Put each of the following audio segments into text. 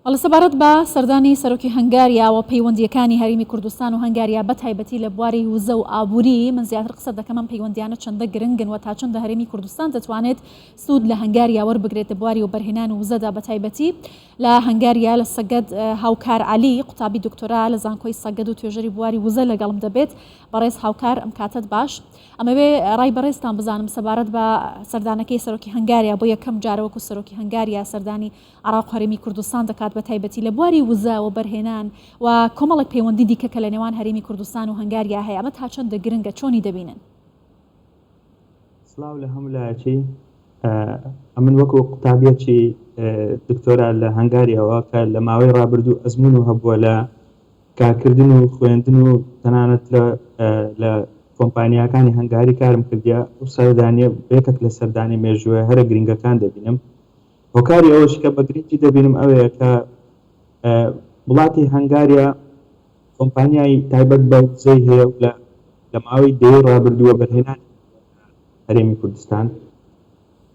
ئەڵێ سەبارەت بە سەردانی سەرۆکی هەنگاریا و پەیوەندییەکانی هەرێمی کوردستان و هەنگاریا بە تایبەتی لە بواری وزە و ئابووری من زیاتر قسە دەکەم ئەم پەیوەندیانە چەندە گرنگن و تا چەندە هەرێمی کوردستان دەتوانێت سوود لە هەنگاریا وەربگرێت لە بواری وەبەرهێنان و وزەدا بە تایبەتی لە هەنگاریا لە سەگەد هاوکار عەلی قوتابی دکتۆرا لە زانکۆی سەگەد و توێژەری بواری وزە لەگەڵم دەبێت بەڕێز هاوکار ئەم کاتەت باش ئەمەوێ ڕای بەڕێزتان بزانم سەبارەت بە سەردانەکەی سەرۆکی هەنگاریا بۆ یەکەم جارە وەکو سەرۆکی هەنگاریا سەردانی عراق و هەرێمی کوردستان دەکات بە تایبەتی لە بواری وزە وەبەرهێنان و کۆمەڵێک پەیوەندی دیکە کە لە نێوان هەرێمی کوردستان و هەنگاریا هەیە ئەمە تا چەندە گرنگە چۆنی دەبینن؟ سڵاو لە هەموو لایەکی ئەمن وەکو قوتابیەکی دکتۆرا لە هەنگاریاوە کە لە ماوەی ڕابردوو ئەزمون و هەبووە لە کارکردن و خوێندن و تەنانەت لە لە کۆمپانیاکانی هەنگاری کارم کردیە ئەو سەردانیە بەیەکەک لە سەردانی مێژووە هەرە گرنگەکان دەبینم هۆکاری ئەوەش کە بە گرنگی دەبینم ئەوەیە کە وڵاتی هەنگاریا کۆمپانیای تایبەت بە وزەی هەیە و لە لە ماوەی دەیەی ڕابردووە بەرهێنانی هەرێمی کوردستان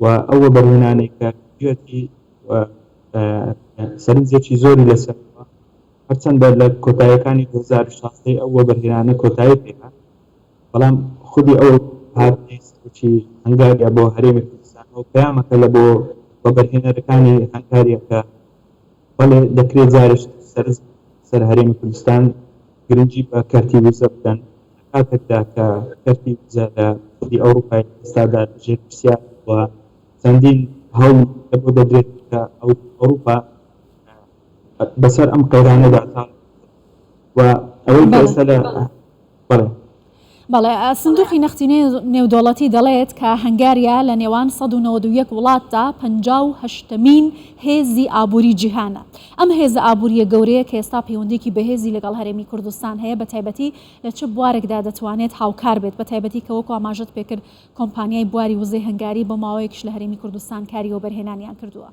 و ئەوە بەرهێنانێکە گوێتی سەرنجێکی زۆری لەسەر هەرچەندە لە کۆتاییەکانی دوو هەزار و شازدە ی ئەو وەبەرهێنانە کۆتایی پێهات، بەڵام خودی ئەو هاتنەی سەرۆکی هەنگاریا بۆ هەرێمی کوردستانەوە پەیامەکە لە بۆ وەبەرهێنەرەکانی هەنگاریا کە بەڵێ دەکرێت جارێش سەرنج سەر هەرێمی کوردستان گرنگی بە کەرتی وزە بدەن لە کاتێکدا کە کەرتی وزە لە خودی ئەوروپای لە ئێستادا لە ژێر پرسیارە و چەندین هەوڵ لە بۆ دەدرێت کە ئەوروپا بەسەر ئەم قەیرانەدا تا و ئەوەی کە ئێستا لە بەڵێ. بەڵێ، سندوقی نەختینەی نێودەوڵەتی دەڵێت کە هەنگاریا لە نێوان سەد و نەوەد و یەک وڵاتدا پەنجا و هەشتەمین هێزی ئابووری جیهانە. ئەم هێزە ئابوورییە گەورەیە کە ئێستا پەیوەندییەکی بەهێزی لەگەڵ هەرێمی کوردستان هەیە بە تایبەتی لە چ بوارێکدا دەتوانێت هاوکار بێت بە تایبەتی کە وەکو ئاماژەت پێکرد کۆمپانیای بواری وزەی هەنگاری بۆ ماوەیەکیش لە هەرێمی کوردستان کاری وەبەرهێنانیان کردووە.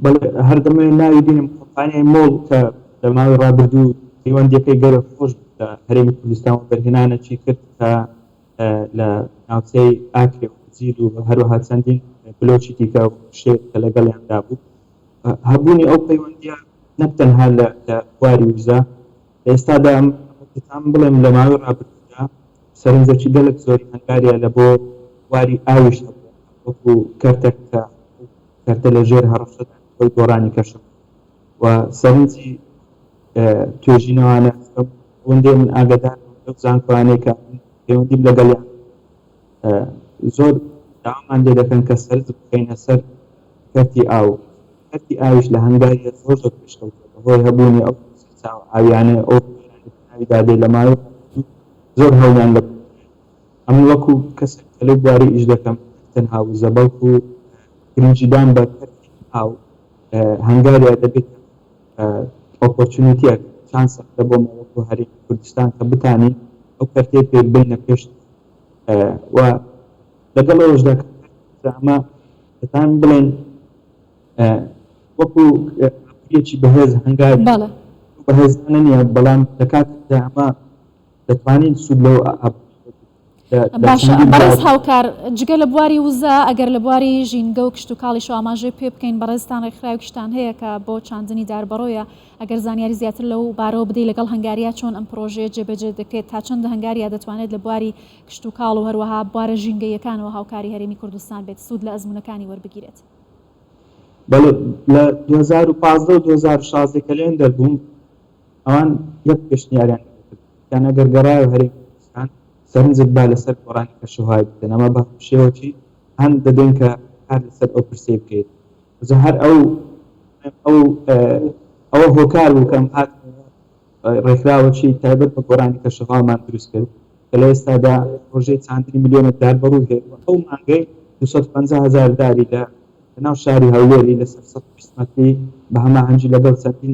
بەڵێ هەر دەمەوێت ناوی بێنم کۆمپانیای مۆڵ کە لە ماوەی ڕابردوو پەیوەندیەکەی گەلێک خۆش بوو لە هەرێمی کوردستان وەبەرهێنانەکی کرد کە لە ناوچەی ئاکرێ و هەجیر و هەروەها چەندین بلۆکی دیکە و شێت کە لەگەڵیاندا بوو هەبوونی ئەو پەیوەندیە نەک تەنها لە لە بواری وزە لە ئێستادا دەتوانم بڵێم لە ماوەی ڕابردوودا سەرنجەکی گەلێک زۆری هەنگاریا لە بۆ بواری ئاویش هەبووە وەکو کەرتەک کە کەرتە لە ژێر هەڕەشەدا ئەو گۆڕانی کەشف و سەرنجی توێژینەوانە ئەوەندەی من ئاگادار بووم لەو زانکۆانەی کە پەیوەندیم لەگەڵیان زۆر داوامان لێ دەکەن کە سەرنج بخەینە سەر کەرتی ئاو کەرتی ئاویش لە هەنگاوی زۆر زۆر پێشکەوتووە بەهۆی هەبوونی ئەو سەرچاوە ئاویانەی ئەو ناوی دادێ لە ماوەی زۆر هەوڵیان لە ئەمن وەکو کەسێک کە لەو بوارە ئیش دەکەم نەک تەنها وزە بەڵکو گرنگیدان بە کەرتی ئاو هەنگاریا دەبێتە ئۆپۆرچونیتیەک، چانسێک لە بۆمە وەکو هەرێمی کوردستان کە بتانین ئەو کەرتەی پێ بێینە پێش و لەگەڵ ئەوەشدا کە کارتێکە ئەمە دەتان بڵێن وەکو ئابوریەکی بەهێز هەنگاری بەڵێ. بەهێزانە نیە بەڵام لە کاتێکدا ئەمە دەتوانین سود لەو باشە بەڕێز هاوکار جگە لە بواری وزە ئەگەر لە بواری ژینگە و کشت و کاڵی شواماژەی پێ بکەین بەڕێزستان ڕێکخراویشتان هەیە کە بۆ چاندنی داربەڕۆیە ئەگەر زانیاری زیاتر لەو بارەوە بدەی لەگەڵ هەنگاریا چۆن ئەم پرۆژەیە جێبەجێ دەکرێت تا چەندە هەنگاریا دەتوانێت لە بواری کشت و کاڵ و هەروەها بوارە ژینگەیەکانەوە هاوکاری هەرێمی کوردستان بێت سوود لە ئەزمونونەکانی وەربگیرێت لە 2015 و 2016 کە لێن دەربووم ئەوان یەک پێشنیاریان لێ دەکرد، گوتیان ئەگەر گەڕایەوە هەرێمی کوردستان، سەرنجت با لەسەر گۆڕانی کەشوهەوای بکەن، ئەمە بە هەموو شێوەکی هان دەدەین کە کار لەسەر ئەو پرسەی بکەیت. جا هەر ئەوە هۆکار بوو کە ئەم هاتنەوە ڕێکخراوەکی تایبەت بە گۆڕانی کەشوهەوامان دروست کرد کە لە ئێستادا پڕۆژەی چاندنی ملیۆنێک دار بە ڕووی هەیە و ئەو مانگەی دوو سەد و پەنجا هەزار داری لە لەناو شاری هەولێری لەسەر سەد و بیست مەتری بە هەماهەنگی لەگەڵ چەندین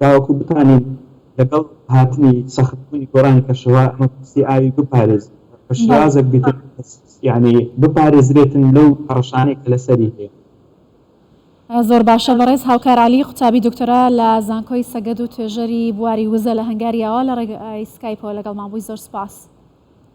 تاوەکو بتوانین لەگەڵ هاتنی سەخت بوونی گۆڕانی کەشوهەوا مەترسی ئاوی بپارێزین و بە بەڵێ. شێوازێک بیکەین یەعنی بپارێزرێتن لەو هەڕەشانەی کە لەسەری هەیە. زۆر باشە بەڕێز هاوکار عەلی قوتابی دکتۆرا لە زانکۆی سەگەدو توێژەری بواری وزە لە هەنگاریاوە لە ڕێگای سکایپەوە لەگەڵمان بووی زۆر سوپاس.